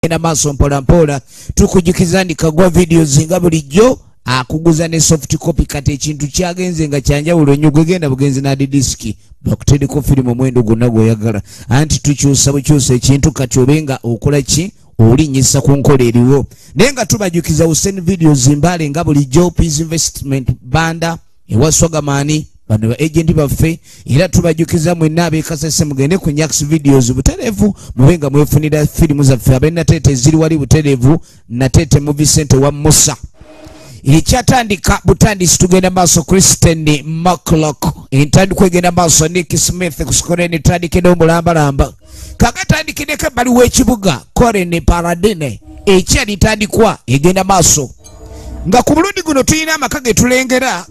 genda maaso mpolampola tukujukiza ndi kagwa videos nga bulijjo akuguza ne soft copy kati ekintu kyagenze nga kyanjawulo nnyo gwegenda bugenzi nadi disiki bakutendeko firimu omwendo gwonna gwoyagala anti tukyusa bukyusa ekintu kati obe nga okola ki olinyisa ku nkola eriwo naye nga tubajukiza usen videos mbale nga bulijjo peace investment banda ewa sogamani bano ba agenti baffe era tubajjukiza mwenna abekasese mugende ku nyax videos butereevu mube nga mwefunira firimu zaffe abe nateete ziri wali butereevu nateete mu vicente wa musa ekyatandika butandisi tugenda maaso christian maclock entandikwa egenda maaso nick smith kusikora netandika edomulambalamba kagatandikideko ebbali w'ekibuga korene paradine ekya litandikwa egenda maaso nga ku bulundi guno tulina amaka ge tulengera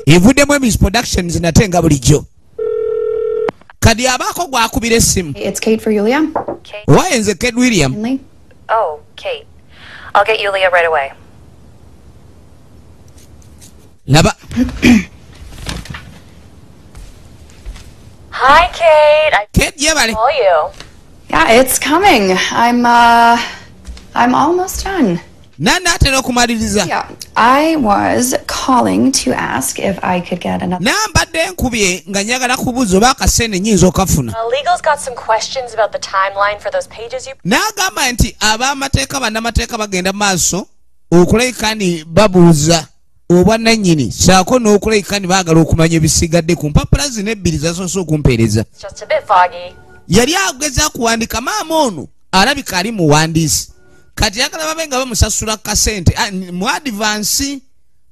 evuddemu emis productions nate nga bulijjo kadi abaako gwakubira essimu owaye nze ked william oh, I'll get Yulia right away. laba Hi, Kate. I Kate, yeah, buddy. Call you. Yeah, it's coming. I'm uh, I'm almost done. nanatera okumaliriza nambadde nkubye nga njagala kubuuza oba akasente nyinza okafuna n'agamba nti ab'amateeka bannamateeka bagenda maaso okulabika ni babuuza obwannannyini saako n'okulabika ne baagala okumanya ebisigadde ku mpapula zino ebbiri zasoose okumpeereza yali ageza kuwandika maama ono alabika ali muwandiisi kati yagala babe nga bamusasula kasente ah, mu adivansi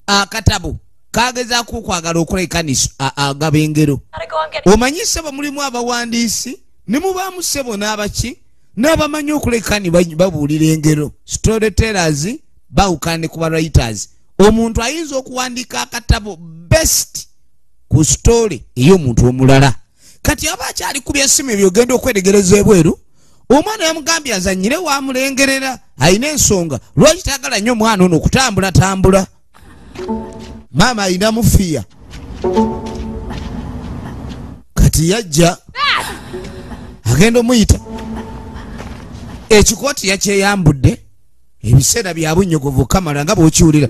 akatabo ah, kagezaako okwagala okola ekaniso agaba engero omanyise bamulimu abawandiisi ne mubaamu ssebo n'abaki n'abamanyi okuleka ni babuulira engero story tellers bawukane ku bawriters omuntu ayinza okuwandiika akatabo best ku story ey'omuntu omulala kati aba akyali ku byesimu ebyo ogenda okweregereza ebweru omwana yamugambye azanyire wamulengerera alina ensonga lwaki tayagala nnyo omwana ono okutambulatambula maama ayina mufiya kati yajja agenda omuyita ekikooti yakyeyambudde ebiseera byabunnyogovu kamala nga bwokiwulira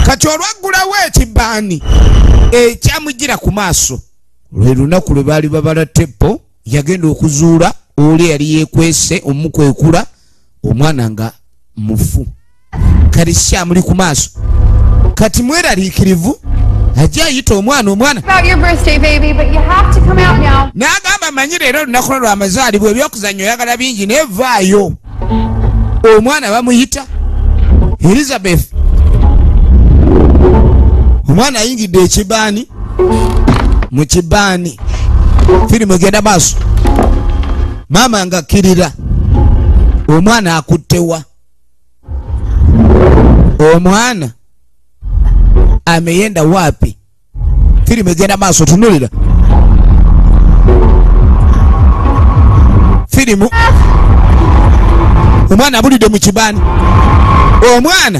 kati olwaggulawo ekibaani ekyamujjira ku maaso lwe lunaku lwe baali babala teppo yagenda okuzuula oli eyali yekwese omukwekula omwana nga mufu kati kyamuli ku maaso kati mweraliikirivu ajja ayita omwana omwana n'agamba manyi leero olunaku lwo lwamazaalibwa ebyokuzannya oyagala bingi nevaayo omwana bamuyita elizabeth omwana ayingidde ekibaani mu kibaani firimu egenda maaso maama nga kirira omwana akuttewa omwana ameyenda wapi firimu egenda maaso tunulira firimu omwana abulidde mu kibani omwana